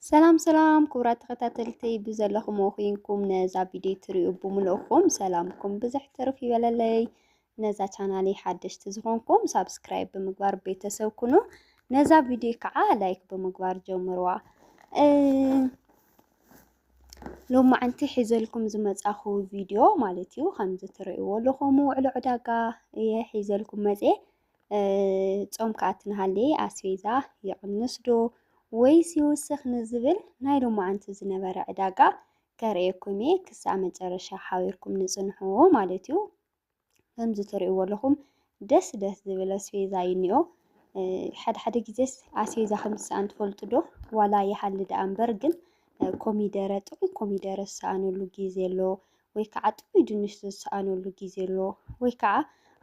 ሰላም ሰላም ክቡራት ተኸታተልቲ ብዘለኹም ወኺንኩም ነዛ ቪድዮ ትሪኡ ብምልእኹም ሰላምኩም ብዝሕ ትርፍ ይበለለይ። ነዛ ቻናሊ ሓደሽቲ ዝኾንኩም ሳብስክራይብ ብምግባር ቤተሰብ ኩኑ። ነዛ ቪድዮ ከዓ ላይክ ብምግባር ጀምርዋ። ሎማዕንቲ ሒዘልኩም ዝመፃኹ ቪድዮ ማለት እዩ ከምዚ ትሪእዎ ኣለኹም ውዕሎ ዕዳጋ እየ ሒዘልኩም መፅየ ጾም ከኣቲ ንሃለየ ኣስቤዛ ይቕንስ ዶ ወይስ ይውስኽ ንዝብል ናይ ሎማዓንቲ ዝነበረ ዕዳጋ ከርእየኩም እየ ክሳብ መጨረሻ ሓቢርኩም ንጽንሑ ማለት እዩ። ከምዚ ትርእይዎ ኣለኹም ደስ ደስ ዝብል ኣስቤዛ እዩ እኒኦ። ሓደ ሓደ ግዜስ ኣስቤዛ ከም ዝሰኣን ትፈልጡ ዶ? ዋላ ይሃሊ ደኣ እምበር ግን ኮሚደረ ጥዑም ኮሚደረ ዝሰኣነሉ ግዜ ኣሎ። ወይ ከዓ ጥዑይ ድንሽ ዝሰኣነሉ ግዜ ኣሎ ወይ ከዓ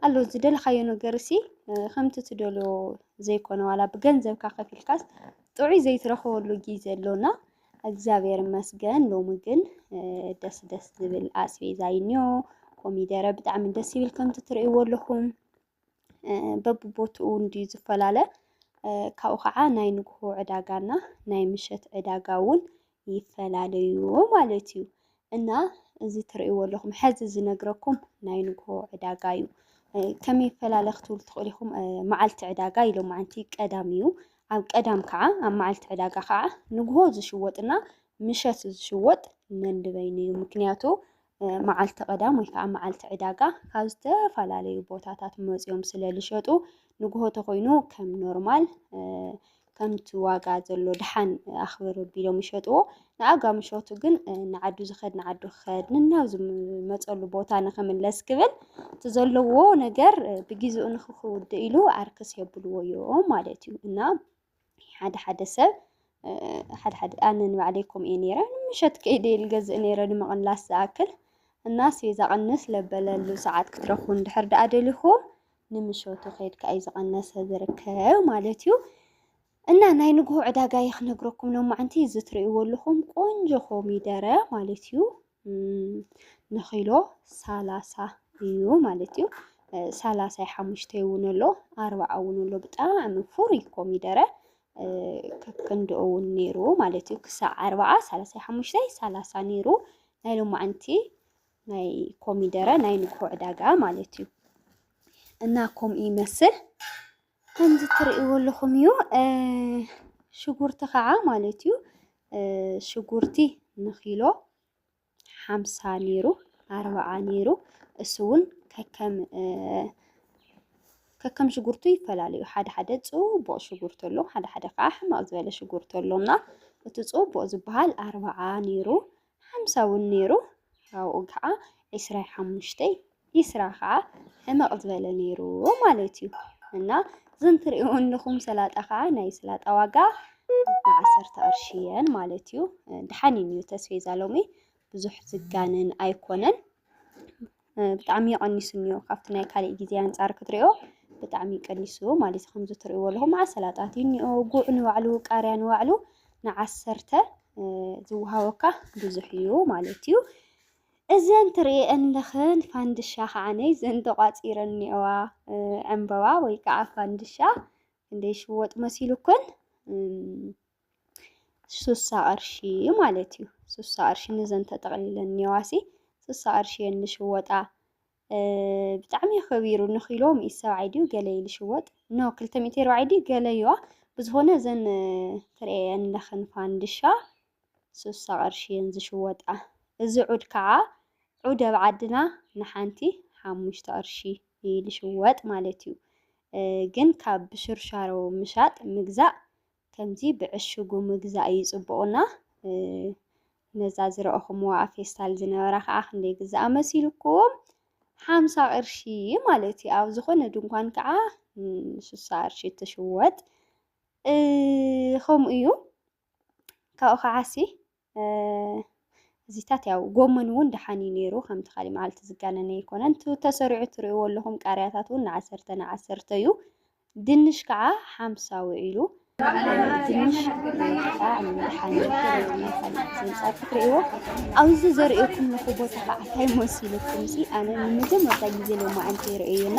ኣሎ ዝደለኻዮ ነገር ሲ ከምቲ ትደልዮ ዘይኮነ ዋላ ብገንዘብካ ከፊልካስ ጥዑይ ዘይትረኽበሉ ግዜ ኣሎና እግዚኣብሔር ይመስገን ሎሚ ግን ደስ ደስ ዝብል ኣስቤዛ እዩ እኒኦ ኮሚደረ ብጣዕሚ ደስ ይብል ከምቲ ትርእይዎ ኣለኹም በብቦትኡ እውን ድዩ ዝፈላለ? ካብኡ ከዓ ናይ ንግሆ ዕዳጋና ናይ ምሸት ዕዳጋ እውን ይፈላለዩ ማለት እዩ። እና እዚ ትርእይዎ ኣለኹም ሕዚ ዝነግረኩም ናይ ንግሆ ዕዳጋ እዩ። ከመይ ይፈላለ ክትብሉ ትኽእሉ ኢኹም። መዓልቲ ዕዳጋ ኢሎ መዓንቲ ቀዳም እዩ። ኣብ ቀዳም ከዓ ኣብ መዓልቲ ዕዳጋ ከዓ ንግሆ ዝሽወጥና ምሸት ዝሽወጥ ነንበይኑ እዩ። ምክንያቱ መዓልቲ ቀዳም ወይ ከዓ መዓልቲ ዕዳጋ ካብ ዝተፈላለዩ ቦታታት መፅዮም ስለ ዝሸጡ ንጉሆ ተኮይኑ ከም ኖርማል ከምቲ ዋጋ ዘሎ ድሓን ኣኽብር ቢሎም ይሸጥዎ ንኣጋ ምሸቱ ግን ንዓዱ ዝኸድ ንዓዱ ክኸድ ንናብ ዝመፀሉ ቦታ ንክምለስ ክብል እቲ ዘለዎ ነገር ብግዜኡ ንክክውድእ ኢሉ ኣርክስ የብልዎ እዮም ማለት እዩ እና ሓደ ሓደ ሰብ ሓደ ሓደ ኣነ ንባዕለይ ከምኡ እየ ነይረ ምሸት ከይደ እየ ዝገዝእ ነይረ ንምቕላስ ዝኣክል እና ኣስቤዛ ቅንስ ለበለሉ ሰዓት ክትረኽቡ እንድሕር ደኣ ደሊኹም ንምሸቱ ከይድካ እዩ ዝቐነሰ ዝርከብ ማለት እዩ እና ናይ ንግሆ ዕዳጋ እየ ክነግረኩም ሎማዕንቲ እዚ ትርእይዎ ኣለኹም ቆንጆ ኮሚደረ ማለት እዩ ንኪሎ ሰላሳ እዩ ማለት እዩ። ሰላሳይ ሓሙሽተ እውን ኣሎ ኣርባዓ እውን ኣሎ ብጣዕሚ ፍሩይ ኮሚደረ ከክንድኡ እውን ነይሩ ማለት እዩ ክሳዕ ኣርባዓ ሰላሳይ ሓሙሽተይ ሰላሳ ነይሩ ናይ ሎማዓንቲ ናይ ኮሚደረ ናይ ንግሆ ዕዳጋ ማለት እዩ እና ከምኡ ይመስል ከምዚ እትርእይዎ ኣለኹም እዩ ሽጉርቲ ከዓ ማለት እዩ ሽጉርቲ ንኪሎ ሓምሳ ነይሩ ኣርብዓ ነይሩ እሱ እውን ከከም ከከም ሽጉርቱ ይፈላለዩ ሓደ ሓደ ፅቡቕ ሽጉርቲ ኣሎ ሓደ ሓደ ከዓ ሕማቕ ዝበለ ሽጉርቲ ኣሎ እና እቲ ፅቡቕ ዝበሃል ኣርብዓ ነይሩ ሓምሳ እውን ነይሩ፣ ካብኡ ከኣ ዕስራይ ሓሙሽተይ፣ ኢስራ ከኣ ሕመቕ ዝበለ ነይሩ ማለት እዩ። እና እዘን ትርእይኦ ኣለኹም ሰላጣ ከኣ ናይ ሰላጣ ዋጋ ንዓሰርተ ቅርሺ እየን ማለት እዩ። ደሓን እዩ ተስፌዛ ሎሚ ብዙሕ ዝጋነን ኣይኮነን። ብጣዕሚ ቀኒሱ እኒኦ ካብቲ ናይ ካሊእ ግዜ ኣንፃር ክትሪኦ ብጣዕሚ ቀኒሱ ማለት እዩ። ከምዚ ትሪእዎ ኣለኹም መዓት ሰላጣት እዩ እኒኦ ጉዕ ንባዕሉ ቃርያ ንባዕሉ ንዓሰርተ ዝወሃበካ ብዙሕ እዩ ማለት እዩ። እዘን ትሪእየን ኣለኽን ፋንድሻ ከዓነ እዘን ተቋፂረን እኒኦዋ ዕምበባ ወይ ከዓ ፋንድሻ ክንደይ ሽወጥ መሲሉክን ሱሳ ቅርሺ ማለት እዩ። ሱሳ ቅርሺ ንዘን ተጠቕሊለን እኒዋሲ ሱሳ ቅርሺ እየን ዝሽወጣ። ብጣዕሚ ከቢሩ ንኪሎ ሚእቲ ሰብዓይ ድዩ ገለ እዩ ዝሽወጥ ኖ ክልተ ሚእቲ ኣርባዕይ ድዩ ገለ እዩዋ ብዝኾነ እዘን ትርእየን ለኽን ፋንድሻ ሱሳ ቅርሺ እየን ዝሽወጣ። እዚ ዑድ ከዓ ዑድ ኣብ ዓድና ንሓንቲ ሓሙሽተ ቅርሺ እዩ ዝሽወጥ ማለት እዩ። ግን ካብ ብሽርሻሮ ምሻጥ ምግዛእ ከምዚ ብዕሽጉ ምግዛእ እዩ ጽቡቕና ነዛ ዝረእኹምዋ ኣብ ፌስታል ዝነበራ ከኣ ክንደይ ግዝኣ መሲልኩም ሓምሳ ቅርሺ ማለት እዩ ኣብ ዝኾነ ድንኳን ከኣ ንስሳ ቅርሺ ትሽወጥ ከምኡ እዩ ካብኡ ከዓሲ እዚታት ያው ጎመን እውን ደሓን እዩ ነይሩ ከምቲ ካሊእ መዓልቲ ዝጋነነ ኣይኮነን ተሰሪዑ ትርእይዎ ኣለኹም ቃርያታት እውን ንዓሰርተ ንዓሰርተ እዩ ድንሽ ከዓ ሓምሳ ውዒሉ ድንሽ ከዓ ደሓን እዩ ዘንፃር ክትርእይዎ ኣብዚ ዘርእየኩም ለኹ ቦታ ከዓ እንታይ መሲልኩም ሲ ኣነ ንመጀመርታ ግዜ ሎማዓንቲ ይርእዩና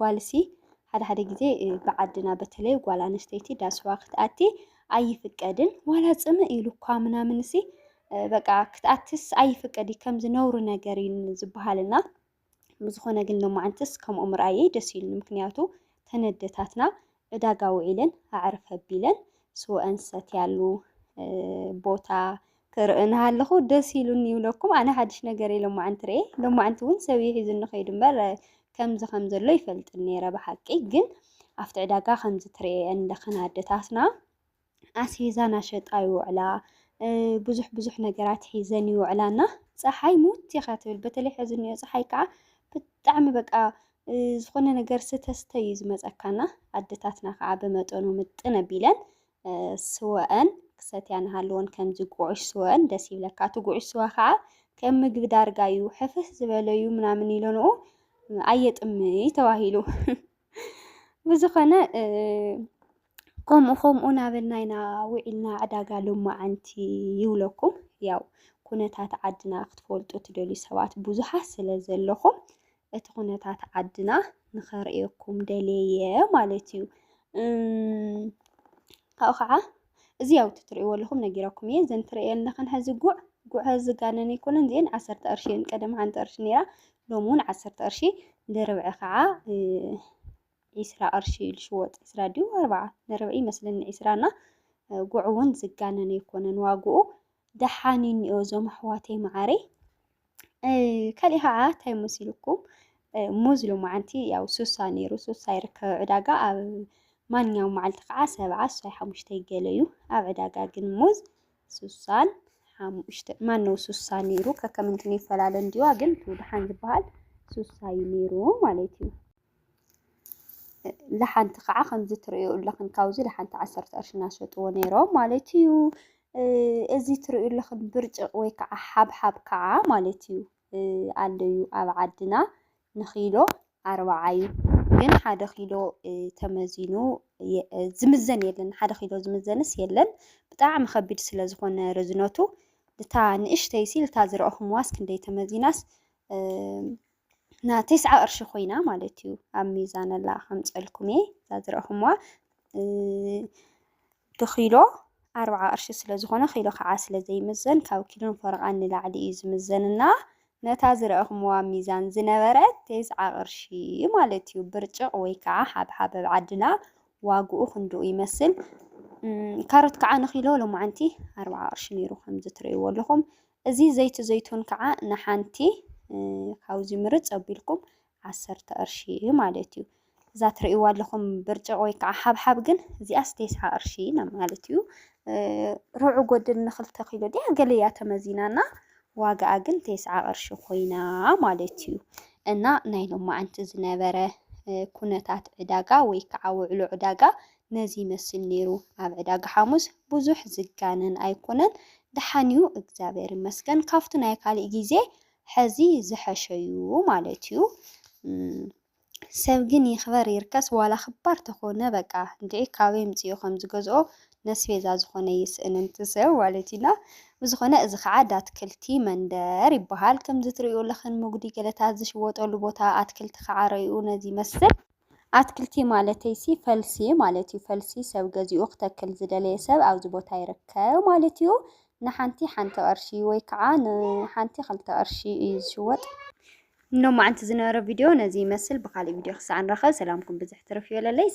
ጓልሲ ሓደ ሓደ ግዜ ብዓድና በተለይ ጓል ኣንስተይቲ ዳስዋ ክትኣቲ ኣይፍቀድን ዋላ ጽምእ ኢሉኳ ምናምንሲ በቃ ክትኣትስ ኣይፍቀድ ከምዚ ነውሪ ነገር እዩ ዝበሃልና ብዝኾነ ግን ሎማዓንትስ ከምኡ ምርኣየይ ደስ ኢሉኒ ምክንያቱ ተን ኣደታትና ዕዳጋ ውዒለን ኣዕርፍ ኣቢለን ስወኣን ዝሰትያሉ ቦታ ክርኢ እናሃለኹ ደስ ኢሉኒ ይብለኩም። ኣነ ሓድሽ ነገር እየ ሎማዕንቲ ርኤ። ሎማዕንቲ እውን ሰብ እዩ ሒዙኒ ከይዱ እምበር ከምዚ ከም ዘሎ ይፈልጥን ነይረ ብሓቂ ግን ኣብቲ ዕዳጋ ከምዚ ትርኤየን ለኽን ኣደታትና ኣስቤዛ ናሸጣ ይውዕላ ብዙሕ ብዙሕ ነገራት ሒዘን ይውዕላ እና ፀሓይ ሙት ኢኻ ትብል በተለይ ሕዚ እኒኦ ፀሓይ ከዓ ብጣዕሚ በቃ ዝኾነ ነገር ስተስተ እዩ ዝመፀካና ኣደታትና ከዓ ብመጠኑ ምጥን ኣቢለን ስወአን ክሰትያ ንሃለወን ከምዚ ጉዑሽ ስወአን ደስ ይብለካ እቲ ጉዑሽ ስዋ ከዓ ከም ምግቢ ዳርጋ እዩ ሕፍስ ዝበለ እዩ ምናምን ኢለንኡ ኣየጥምይ ተባሂሉ ብዝኾነ ከምኡ ከምኡ ናበልና ኢና ውዒልና ዕዳጋ ሎማዓንቲ ይብለኩም። ያው ኩነታት ዓድና ክትፈልጡ ትደልዩ ሰባት ብዙሓት ስለ ዘለኹም እቲ ኩነታት ዓድና ንኸርእየኩም ደልየ ማለት እዩ። ካብኡ ከዓ እዚ ያው ትሪእዎ ኣለኹም ነጊረኩም እየ። እዘን ትሪእዮ ኣለኽን ሕዚ ጉዕ ጉዕ ዝጋነን ኣይኮነን። እዚአን ዓሰርተ ቅርሺ እየን። ቀደም ሓንቲ ቅርሺ ነይራ ሎሚ እውን ዓሰርተ ቅርሺ ድርብዒ ከዓ ዒስራ ቅርሺ እዩ ልሽወጥ ዒስራ ድዩ ኣርብዓ ንርብዒ ይመስለኒ ዒስራ እና ጉዕ እውን ዝጋነን ኣይኮነን ዋግኡ ደሓን እዩ እኒኦ እዞም ኣሕዋተይ መዓረይ ካልእ ከዓ እንታይ መሲልኩም ሙዝ ሎማዓንቲ ያው ሱሳ ነይሩ ሱሳ ይርከብ ዕዳጋ ኣብ ማንኛውም መዓልቲ ከዓ ሰብዓ ሱሳይ ሓሙሽተ ይገለ እዩ ኣብ ዕዳጋ ግን ሙዝ ሱሳን ሓሙሽተ ማነው ሱሳ ነይሩ ከከምንትን ይፈላለ እንዲዋ ግን እቲ ድሓን ዝበሃል ሱሳ እዩ ነይሩ ማለት እዩ ለሓንቲ ከዓ ከምዚ ትርእዩ ኣለኽን ካብዚ ለሓንቲ ዓሰርተ ቅርሺ እናሸጥዎ ነይሮም ማለት እዩ። እዚ ትርእዩ ኣለኽን ብርጭቕ ወይ ከዓ ሓብሓብ ከዓ ማለት እዩ ኣሎ እዩ ኣብ ዓድና ንኪሎ ኣርብዓ እዩ። ግን ሓደ ኪሎ ተመዚኑ ዝምዘን የለን ሓደ ኪሎ ዝምዘንስ የለን። ብጣዕሚ ከቢድ ስለ ዝኾነ ርዝነቱ እታ ንእሽተይ ሲል እታ ዝረእኹምዋስ ክንደይ ተመዚናስ ና ቴስዓ ቅርሺ ኮይና ማለት እዩ ኣብ ሚዛነላ ከምፀልኩም እየ እዛ ዝረእኹምዋ ብኪሎ ኣርብዓ ቅርሺ ስለ ዝኾነ ኪሎ ከዓ ስለ ዘይምዘን ካብ ኪሎን ፈረቓን ንላዕሊ እዩ ዝምዘንና ነታ ዝረእኹምዋ ሚዛን ዝነበረት ቴስዓ ቅርሺ ማለት እዩ ብርጭቕ ወይ ከዓ ሓብሓብ ኣብ ዓድና ዋግኡ ክንድኡ ይመስል ካሮት ከዓ ንኪሎ ሎማዓንቲ ኣርብዓ ቅርሺ ነይሩ ከምዚ ትርእይዎ ኣለኹም እዚ ዘይቲ ዘይቱን ከኣ ንሓንቲ ካብዚ ምርጽ ኣቢልኩም ዓሰርተ ቅርሺ ማለት እዩ። እዛ ትርእይዋ ኣለኹም ብርጭቕ ወይ ከኣ ሓብሓብ ግን እዚኣስ ቴስዓ ቅርሺ ማለት እዩ። ርብዒ ጎድል ንክልተ ኪሎ ድያ ገለ እያ ተመዚና እና ዋጋኣ ግን ቴስዓ ቅርሺ ኮይና ማለት እዩ። እና ናይ ሎማዓንቲ ዝነበረ ኩነታት ዕዳጋ ወይ ከዓ ውዕሎ ዕዳጋ ነዚ ይመስል ነይሩ ኣብ ዕዳጋ ሓሙስ ብዙሕ ዝጋነን ኣይኮነን ደሓን ዩ እግዚኣብሔር ይመስገን ካብቱ ናይ ካሊእ ግዜ ሐዚ ዝሐሸ ዩ ማለት ዩ ሰብ ግን ይክበር ይርከስ ዋላ ክባር ተኮነ በቃ እንድዒ ካበይ ኣምፂኡ ከም ዝገዝኦ ነስቤዛ ዝኮነ ይስእን እቲ ሰብ ማለት ዩ እና ብዝኮነ እዚ ከዓ ዳትክልቲ መንደር ይበሃል ከምዚ ትሪእዮ ለክን ሙጉዲ ገለታት ዝሽወጠሉ ቦታ ኣትክልቲ ከዓ ረይኡ ነዚ ይመስል። ኣትክልቲ ማለተይሲ ፈልሲ ማለት እዩ። ፈልሲ ሰብ ገዚኡ ክተክል ዝደለየ ሰብ ኣብዚ ቦታ ይርከብ ማለት እዩ። ንሓንቲ ሓንቲ ቅርሺ ወይ ከዓ ንሓንቲ ክልተ ቅርሺ እዩ ዝሽወጥ። ሎማዓንቲ ዝነበረ ቪድዮ ነዚ ይመስል ብካሊእ ቪድዮ ክሳዕ ንራኸብ ሰላምኩም ብዝሕ ትርፍ ይበለለይ።